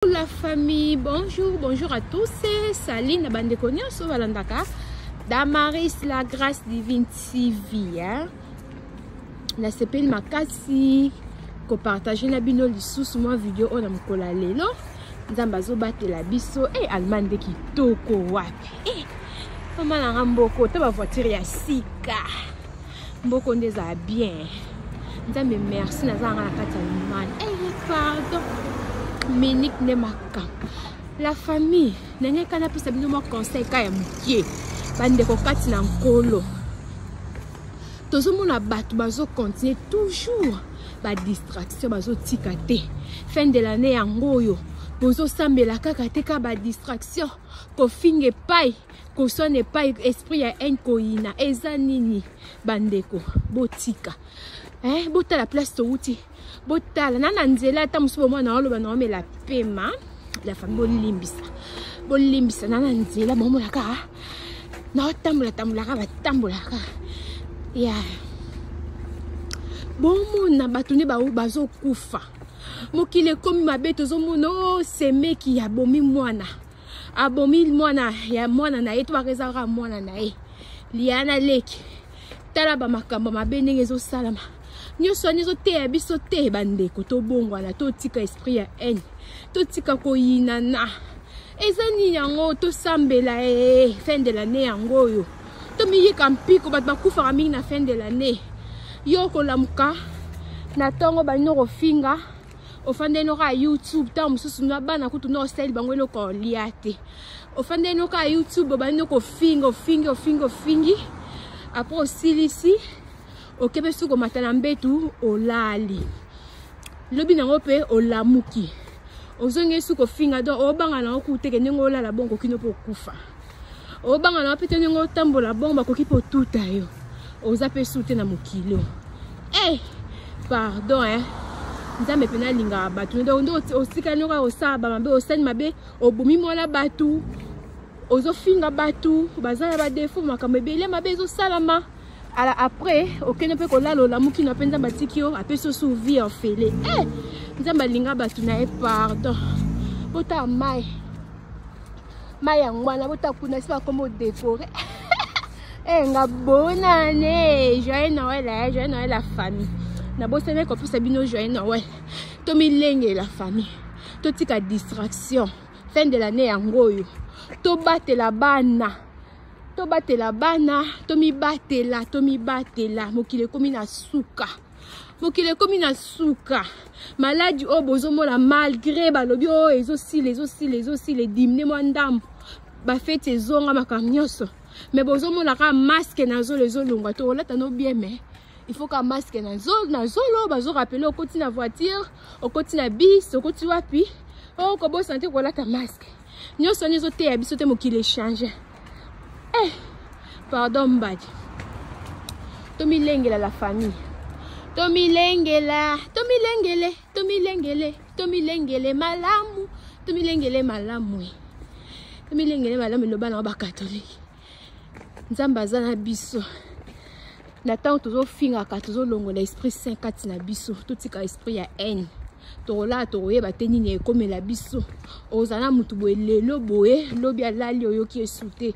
Bonjour la famille, bonjour, bonjour à tous. Salut na bande konyoso balandaka Damaris la grâce divine TV. Hein? Na sepeli makasi ko partager na bino lisusu mwa video oyo na mokolo ya lelo. Nzambe azobatela biso. Eh, hey, Allemagne nde kitoko wapi? Eh, hey, mama na nga mboko, ta ba voiture ya sika. mboko nde ezala bien nzambe merci naza yanga na kati ya limani eye eh, pardon minike nde makambo la famille ndenge eka napesa bino mwa conseil ka ya mokie bandeko kati na nkolo tozomona bato bazokontinue toujours badistraction bazotika te fin de l'année yango oyo bozosambela kaka te ka badistraction kofinga epai koswana epai esprit ya haine koyina eza nini bandeko botika eh, botala place towuti botala na na nzela ata mosusu bomwana naoloba naomela pema la famille bolimbisa bolimbisa na na nzela bomona kaka naotambola tambolaka batambolaka ya yeah. bomona bato nde bazokufa mokili ekomi mabe tozomona o oh, semeki ya bomi mwana abomi mwana ya mwana na ye to baka ezalaka mwana na ye liana leki tala bamakambo mabe ndenge ezosalama nyonso wana ezoteya biso te bandeko tobongwana totika esprit ya haine totika koyinana eza nini yango tosambela ee fin de lannée yango oyo tomiyika mpiko bato bakufaka mingi na fin de lannée yo okolamuka na ntongo baninoko ofinga ofanda enoka ya youtube ntango mosusu na bana kutu na osali bango eloko olia te ofanda enoka ya youtube obandi noko ofingi ofingi ofingi ofingi apres osilisi okebe soki komata na mbetu olali lobi nango mpe olamuki ozongi esuki ofinga don obanga nango kuteke ndenge olala bongo kino mpo okufa obanga na wapi te ndenge otambola bongo bakoki mpe otuta yo oza mpe su te na mokili oyo e pardon e nzambe mpe nalingaka bato nde otikali noko osala bamabe osali mabe obomi mwana bato ozofinga bato baza na badefo makambo ebele mabe ezosalama ala après okende mpe kolala olamuki na mpe nzambe atiki yo apesi osu vie ya ofele e eh, nzambe alinga bato na ye pardon botala mai mai ya ngwana bota kuna esi bakoma odekore ee eh, nga bonane joyeux noel ya eh, joyeux noel ya famille nabosani kopesa bino joyeux noel tomilengela famille totika distraction fin de l'année yango oyo tobatela bana tobatela bana tomibatela tomibatela mokili ekomi na suka mokili ekomi na suka maladi oyo bozomona malgre balobi oyo oh, ezosila ezosila ezosila edimine mwa ndambo bafeti ezonga makambo nyonso me bozomona kaka maske na zolo ezolongwa to olata no bien me il faut ka maske na zolo bazorapele okoti na voiture okoti na bis okoti wapi okobosana oh, te kolata maske nyonso wana ezoteya biso te mokili echange eh, pardon mbadi tomilengela la famille tomilengela tomilengele tomilengele tomilengele malamu tomilengele malamu tomilengele malamu eloba na bakatolike nzambe aza na biso na ntango tozofingaka tozolongola esprit saint kati na biso totika esprit ya haine tokolala tokoyeba te nini ekomela biso ozala na motu boye lelo boye lobi alali oyoki esu te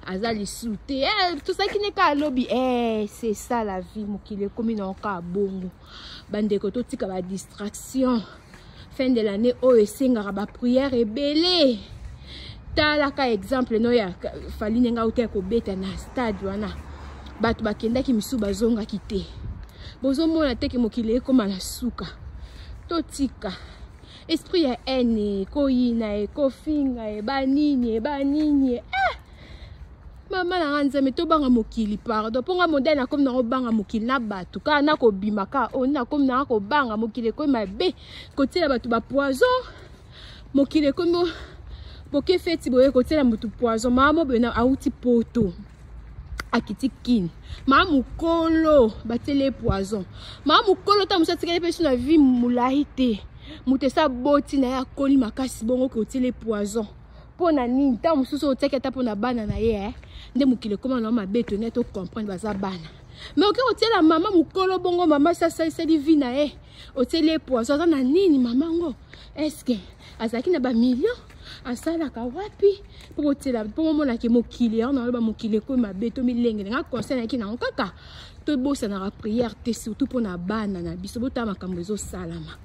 aza lisu te eh, tozalaki ne kaka lobi eh, c'est ça la vie mokili ekomi na okaa bongo bandeko totika ba distraction fin de l'année oyo esengaka ba prière ebele talaka exemple no ya fali ndenge auta ya kobeta na stade wana bato bakendaki misusu bazongaki te bozomona teke mokili ekoma na suka totika esprit ya haine ekoyina ekofinga eba nini eba nini eh! mama na nga nzambe tobanga mokili pardon mpo nga modele nakomi nango banga mokili na bato kaka nakobima kaka oyo oh, nakomi nanga kobanga mokili ekomi mabe kotiela bato bapoison mokili ekomi boke feti boye kotiela motu poison mama moboye auti poto akiti kini maa mokolo batieli ye poison maa mokolo ntango mosu atikali mpe so na vie molai te moto esi aboti na ye akoli makasi bongo kotieli ye poison mpo na nini ntango mosusu otiaki ata mpo na bana na ye eh? nde mokili ekoma na mabe tone to comprendre baza bana me oke otiela mama mokolo bongo mama sasaliseli vi na ye otieli ye poison aza na nini mama ngo eske azalaki na bamillion asalaka wapi mpo botiela mpo momonake mokili yango naloba mokili ekomi mabe to milengele nga conseil nayaki nango kaka tobosanaka prière te surtout mpo na bana na biso botala makambo ezosalama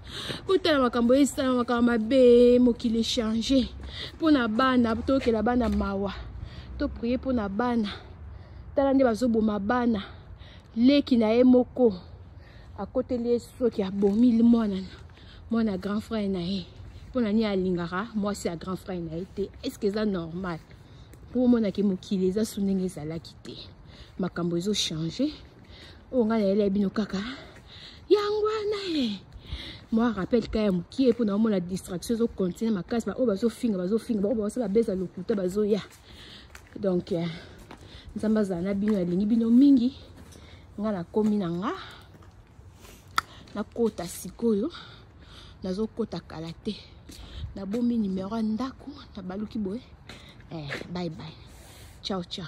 botala makambo oyo esala makambo mabe mokili echange mpo na bana toyokela bana mawa toprie mpo na bana tala nde bazoboma bana leki na ye moko akoteli ye soki abomi mwana mwana grand frère na ye mpo na nini alingaka mwasi ya grand frère na ye te estce eza normal mpo omonaki mokili eza su ndenge ezalaki te makambo ezochange oyo ngai nayelai bino kaka yango wana e eh. mwa rappel ka ya mokie mpo na omona distraction ezocontinue makasi baoyo bazofinga bazofinga baoyo baosala beza lokuta bazoya donc eh, nzambe azala na bino alingi bino mingi nga nakomi na nga nakota sikoyo nazokota kala te nabomi nimero ya ndako nabaluki boye eh, bye bye ciao ciao